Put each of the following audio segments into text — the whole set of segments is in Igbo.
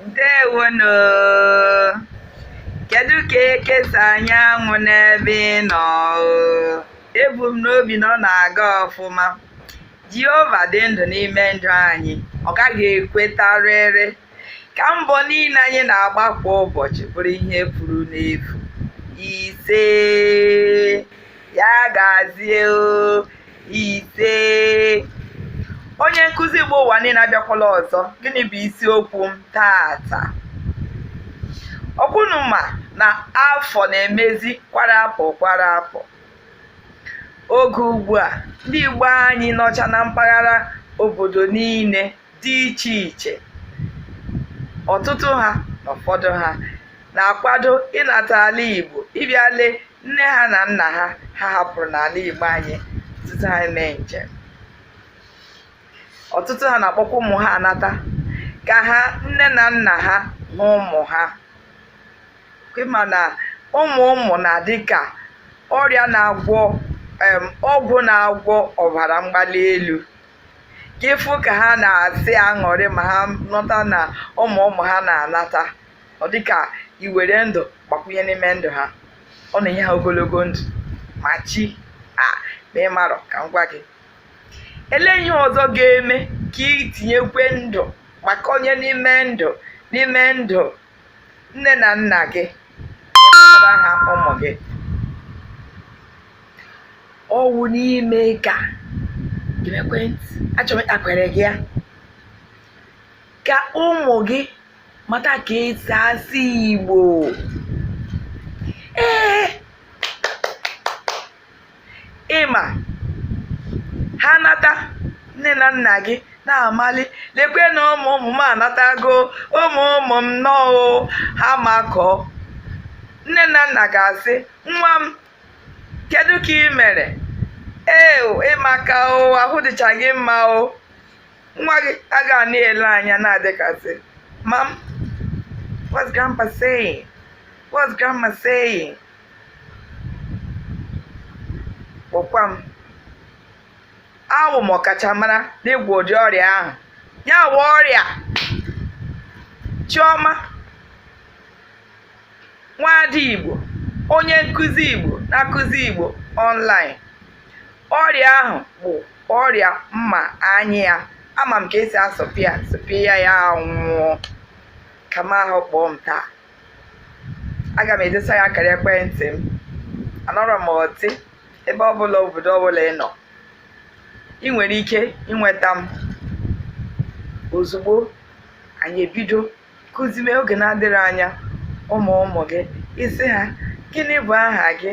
ndewo nụ kedu ka eke si anya anwụ n'ebe ị nọ ebu m n'obi na ọ na-aga ọfụma jehova dị ndụ n'ime ndụ anyị ọ gaghị ekwetarịrị ka mbọ niile anyị na-agba kwa ụbọchị bụrụ ihe furu n'efu ise ya gazie o ise onye nkụzi Igbo ụwa niile abịakwala ọzọ gịnị bụ isiokwu m taata ọ kwa ụnụ ma na afọ na-emezi kwara apụ kwara apụ oge ugbu a ndị Igbo anyị nọcha na mpaghara obodo niile dị iche iche ọtụtụ ha na ụfọdụ ha na-akwado ịnata ala Igbo ịbịa lee nne ha na nna ha ha hapụrụ n'ala Igbo anyị tutu ha emee njem ọtụtụ ha na-akpọkwa ụmụ ha anata ka ha nne na nna ha na ụmụ ha ị ma na ụmụ ụmụ na-adị ka ọrịa na-agwọ ọgwụ na-agwọ ọbara mgbali elu ka ị fụ ka ha na-esi aṅụrị ma ha nụta na ụmụ ụmụ ha na-anata ọ dịka i were ndụ gbakwunye n'ime ndụ ha ọ na-enye ha ogologo ndụ ma chi a ma ị marọ ka m gwa gị lee ihe ọzọ ga-eme ka i tinyekwe ndụ gbakwunye n'ime ndụ n'ime ndụ nne na nna gị ịkpọtara ha ụmụ gị ọ wụ n'ime ka geekwa ntị achọrọ m ịtakwere gị ya ka ụmụ gị mata ka esi asụ igbo ee ị ma ha nata nne na nna gị na-amali lekwe na ụmụ ụmụ m anatago ụmụ ụmụ m nnọọ ha makọọ nne na nna ga-asị nwa m kedu ka ị mere ee ị maka o ahụ dịcha gị mma o nwa gị aga na-ele anya na-adị ka sị mum what's grandpa saying what's grandma saying kpọkwa m awụ m ọkachamara n'ịgwọ ụdị ọrịa ahụ ya wụ ọrịa chioma nwaada igbo onye nkụzi igbo na-akụzi igbo online ọrịa ahụ bụ ọrịa m ma anya ya ama m ka esi asụpịa sụpịa ya ya anwụọ ka m ahụ kpọọ m taa aga m edesa gị akara ekwentị m anọrọ m ọtị ebe ọbụla obodo ọbụla ị nọ i nwere ike inweta m ozugbo anyị ebido kuzime oge na-adịghị anya ụmụ ụmụ gị ị sị ha gịnị bụ aha gị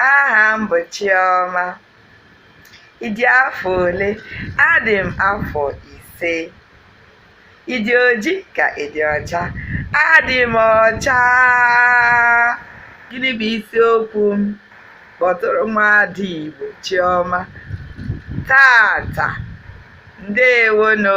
aha m bụ Chioma ị dị afọ ole adị m afọ ise ị dị oji ka ị dị ọcha adị m ọcha gịnị bụ isiokwu m kpọtụrụ nwaada Igbo Chioma taata ndewonụ